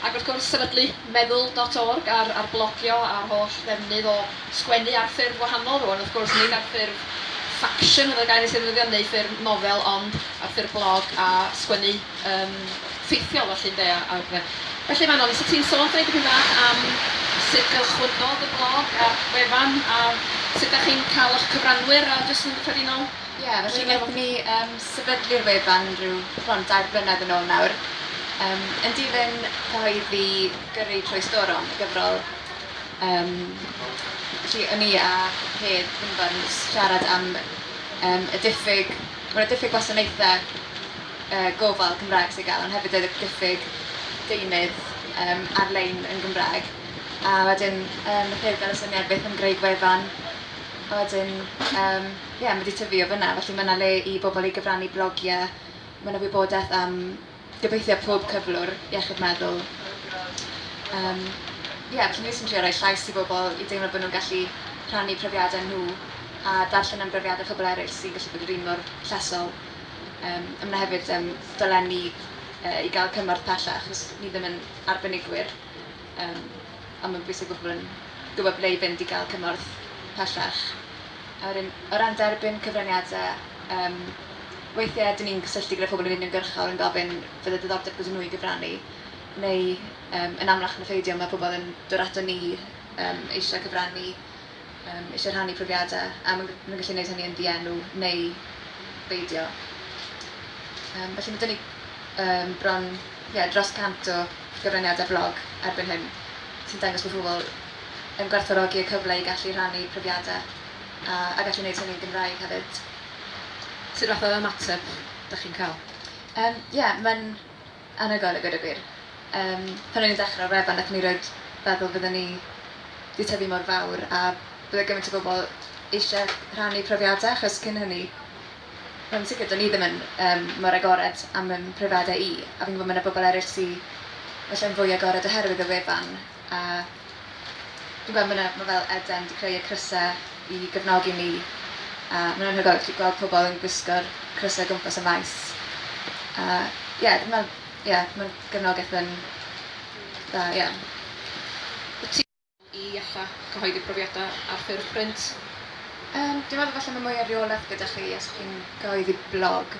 Ac wrth gwrs, sefydlu Meddwl dot org ar ar blogio a'r holl ddefnydd o sgwennu ar ffurf wahanol rwan, wrth gwrs, nid ar ffurf faction fel y gair nes ei ddefnyddio, neu ffurf nofel, ond ar ffurf blog a sgwennu yn ffeithiol felly, ynde, a a pethe. Felly, Manon, 'set ti'n sôn dweud dipyn bach am sut gychwynnodd y blog a'r wefan a sut 'dach chi'n cael 'ych cyfranwyr a jyst yn gyffredinol? Ie, felly wnaethon ni yym sefydlu'r wefan rhyw bron dair blynedd yn ôl nawr yym yn dilyn cyhoeddi Gyrru Trwy Storom, y gyfrol yym felly o'n i a Hedd Finfan yn siarad am yym y diffyg... ma' 'na diffyg gwasanaethe yy gofal Cymraeg sydd i gael ond hefyd y diffyg deunydd yym ar-lein yn Gymraeg a wedyn yym wnaeth Hedd gael y syniad beth am greu gwefan a wedyn yym ie, ma' 'di tyfu o fyna, felly ma' 'na le i bobl i gyfrannu blogiau, ma' 'na wybodaeth am gobeithio pob cyflwr iechyd meddwl. Yym, ie, felly ni jyst yn trio rhoi llais i bobl i deimlo bod nhw'n gallu rhannu profiadau nhw a darllen am brofiadau pobl eraill sy'n gallu bod yr un mor llesol. Yym, a ma' 'na hefyd yym, dolenni yy i gael cymorth pellach, os ni ddim yn arbenigwyr. Yym. a mae'n bwysig bod pobl yn gwybod ble i fynd i gael cymorth pellach. A wedyn, o ran derbyn cyfraniadau, um, weithiau dyn ni'n cysylltu gyda phobl yn uniongyrchol yn gofyn fydde diddordeb gyda nhw i gyfrannu, neu um, yn amlach na pheidio mae pobl yn dod ato ni um, eisiau cyfrannu Yym, eisiau rhannu profiadau, a mae'n mae'n gallu neud hynny yn ddienw neu beidio. Yym, felly mae 'da ni yym bron ie dros 100 o gyfraniadau blog erbyn hyn sy'n dangos bod pobl yn gwerthfawrogi y cyfle i gallu rhannu profiadau a a gallu neud hynny'n Gymraeg hefyd. Sut fath o ymateb 'da chi'n ca'l? Yym, ie, mae'n Anhygoel i gweud y gwir. Yym, pan o'n i'n dechrau ar wefan nathon ni rioed feddwl fydden ni 'di tyfu mor fawr a bydde gymaint o bobl eisie rhannu profiade achos cyn hynny wel yn sicr do'n i ddim yn yym mor agored am fy mhrofiade i a fi'n gwbo ma' 'na bobl eryll sy ella'n fwy agored oherwydd y wefan. A dwi'n gweld ma' 'na, ma' fel Eden 'di creu y crysau i gefnogi ni, a ma'n anhygoel actually gweld pobl yn gwisgo'r crysau o gwmpas y maes. A ie, dwi'n meddwl, ie, ma'n gefnogaeth yn dda, ie. Wyt ti'n meddwl i alla cyhoeddi profiadau ar ffurf print? Yym, dwi'n meddwl falle ma' mwy o reolaeth gyda chi os chi'n cyhoeddi blog,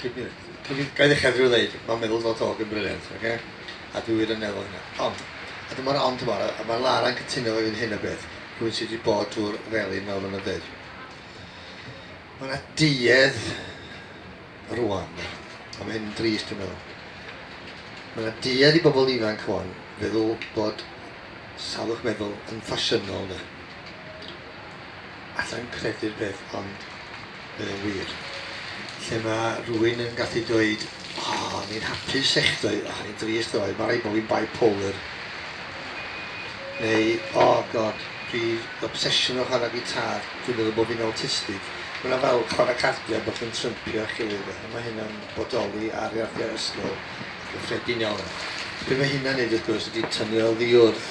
Cyn cyn gael ddechrau drwy ddeud, mae'n meddwl fod Hogg yn briliant, oce? A dwi wir yn meddwl hynna. Ond, a dyma'r ond yma, a mae Lara'n cytuno efo fi yn hyn o beth, rhywun sydd wedi bod drwy'r felin fel maen nhw'n dweud. Mae yna duedd rwan, a mae hyn yn drist dwi'n meddwl. Mae yna duedd i bobl ifanc rwan feddwl bod salwch meddwl yn ffasiynol, de. Alla i'm credu'r peth ond mae o'n wir. Lle mae rhywun yn gallu dweud O, o'n i'n hapus echdoe, o, o'n i'n drist ddoe, mae rhaid bod fi'n bipolar. Neu, o God, dwi obsesiwn o chwarae gitar, dwi'n meddwl bod fi'n awtistig. Mae yna fel chwarae cardiau bod chi'n trympio eich gilydd, a mae hynna'n bodoli ar iardiau ysgol yn gyffredin iawn. Be mae hynna'n neud wrth gwrs ydi tynnu oddi wrth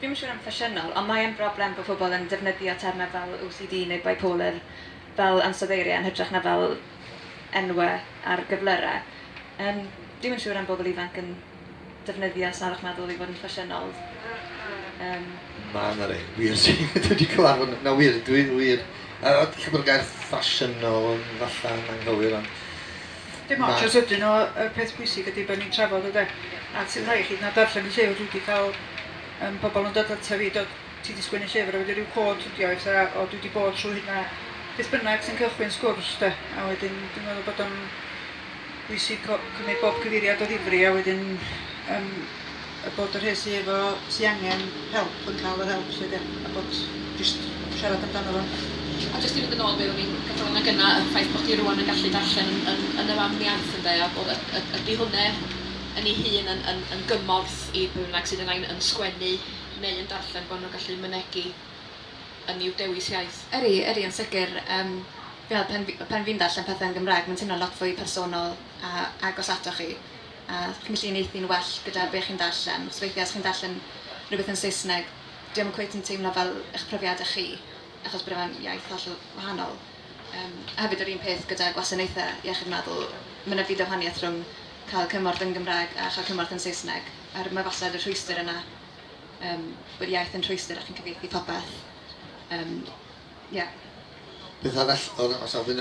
Dwi'm yn siŵr am ffasiynol, ond mae yn broblem bod pobl yn defnyddio termau fel OCD neu bipolar fel ansoddeiriau yn hytrach na fel enwau ar gyflyrau. Yym, dwi'm yn siŵr am bobl ifanc yn defnyddio salwch meddwl i fod yn ffasiynol. Yym. Na, 'na rei wir sy dwi wedi cyfarfod nhw. Na wir, dwi wir. Yy ella bod y gair ffasiynol yn falla yn anghywir ond Dim ots os ydyn nhw, y peth pwysig ydy bod ni'n trafod ynde. A ti'n rhaid i chi na darllen y llyfr, dwi wedi cael um, pobl yn dod ata fi, dod, ti wedi sgwennu llyfr a wedi rhyw cod ydi o, eitha, o dwi wedi bod trwy hynna, beth bynnag sy'n cychwyn sgwrs de, a wedyn dwi'n meddwl bod o'n bwysig cymryd bob cyfeiriad o ddifri a wedyn um, A bod y rhei sy efo... sy angen help yn cael yr help 'lly 'de? A bod jyst siarad amdano fo. A jyst i fynd yn ôl be ro'n i'n gadal yna gynna', y ffaith bod hi rŵan yn gallu darllen yn yn yn y fam iaith ynde, a bod y- y- ydi hwnne yn ei hun yn yn yn gymorth i bwy bynnag sydd yn ain yn sgwennu neu yn darllen bo' nhw'n gallu mynegi yn i'w dewis iaith? Ydi, ydi yn sicr. Yym fi'n meddwl pan fi- pan fi'n darllen pethe yn Gymraeg mae'n teimlo'n lot fwy personol a agos atoch chi. a chi'n gallu uniaethu'n well gyda be chi'n darllen, achos weithiau os chi'n darllen rhywbeth yn Saesneg, dyw e ddim cweit yn teimlo fel eich profiadau chi, achos bod e mewn iaith hollol wahanol. Yym, a hefyd yr un peth gyda gwasanaethau iechyd meddwl, mae 'na fyd o wahaniaeth rhwng cael cymorth yn Gymraeg a chael cymorth yn Saesneg, a'r mae wastad y rhwystr yna, yym, bod iaith yn rhwystr a chi'n cyfieithu popeth. Yym, ie. Beth arall o ra- o safbwynt y...